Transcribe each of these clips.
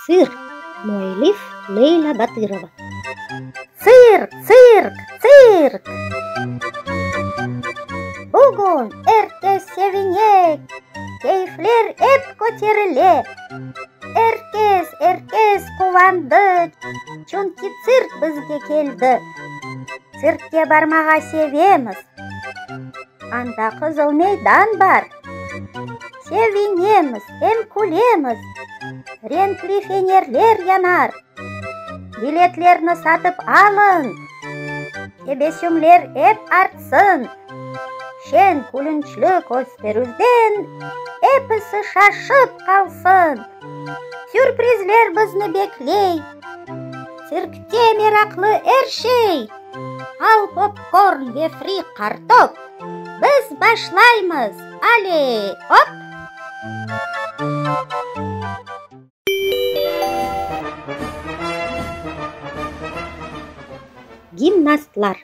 Tsirk, müellif, Leyla Batırova. Tsirk, tsirk, tsirk! Bugün, ertesi sevinek, Keyfler ep köterile. Er kes, er kes quvandı, çünki tsirk bizge keldi. Tsirkke barmağa sevemiz. Anda qızıl meydan bar. Sevinemiz, em külemiz. Renkli fenerler yanar. Biletlerni satıp alın! Tebessümler ep artsın! Şeñ külünçli kösterüvden episi şaşıp qalsın! Sürprizler bizni bekley! Sirkte meraqlı er şey! Al popkorn ve fri kartop! Biz başlaymız! Aley, op! Gimnastlar.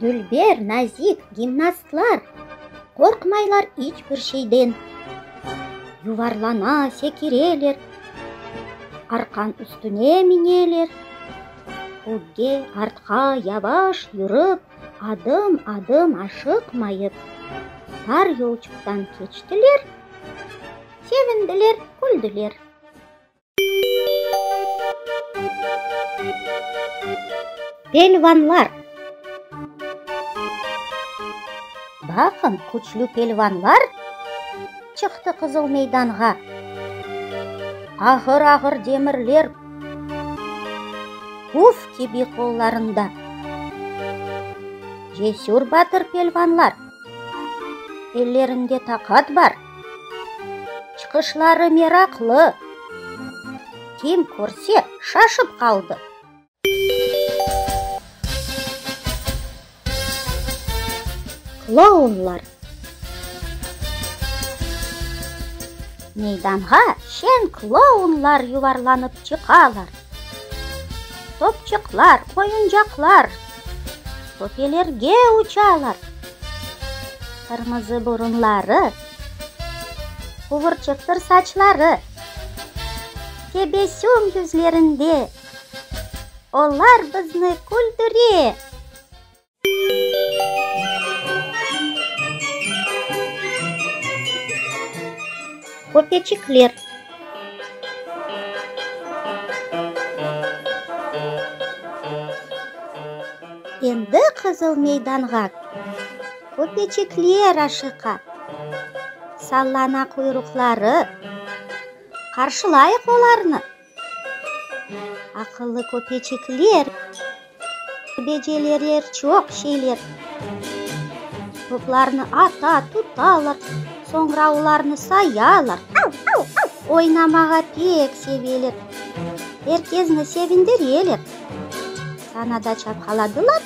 Dülber, nazik gimnastlar. Qorqmaylar iç bir şeyden. Yuvarlana, sekireler. Arqan üstüne mineler. Ögge, artqa yavaş yürip. Adım-adım aşıqmayıp, tar yolçuqtan keçtiler, sevindiler, küldüler. Pelvanlar Baqın, küçlü pelvanlar çıqtı Qızıl meydanğa. Ağır-ağır demirler. Puf kibi qollarında. Cesür batır pelvanlar. Ellerinde taqat bar. Çıqışları meraqlı. Kim körse, şaşıp qaldı. Klounlar. Meydanğa şeñ klounlar yuvarlanıp çıqalar. Topçıqlar, oyuncaqlar topelerge uçalar. Qırmızı burunları, quvurçıqtır saçları, tebessüm yüzlerinde. Olar bizni küldüre! Köpeçikler. Endi Qızıl meydanğa. Köpeçikler aşıqa. Sallana quyruqları. Qarşılayıq olarnı. Aqıllı köpeçikler, becereler çoq şeyler. Toplarnı ata, tutalar, soñra olarnı sayalar. Oynamağa pek seveler, er kezni sevindireler. Sana da çapqaladılar,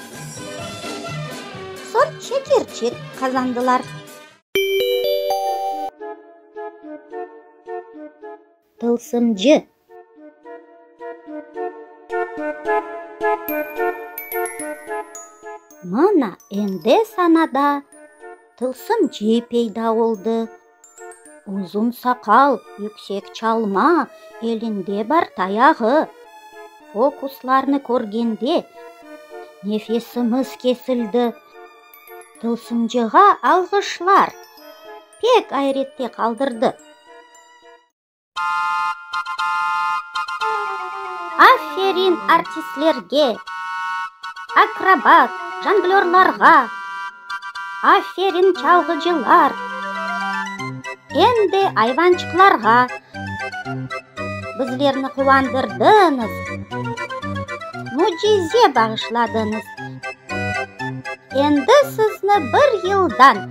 soñ şekerçi qazandılar. Tılsımcı. Mına endi sanada tılsımcı peyda oldı. Uzun saqal, yüksek çalma, elinde bar tayağı. Fokuslarnı körgende nefesimiz kesildi. Tılsımcığa alğışlar! Pek ayrette qaldırdı. Aferin artistlerge, akrobat, jonglörlarğa! Aferin çalğıcılar! Em de ayvançıqlarğa! Bizlerni quvandırdıñız, mücize bağışladıñız. Endi sizni bir yıldan.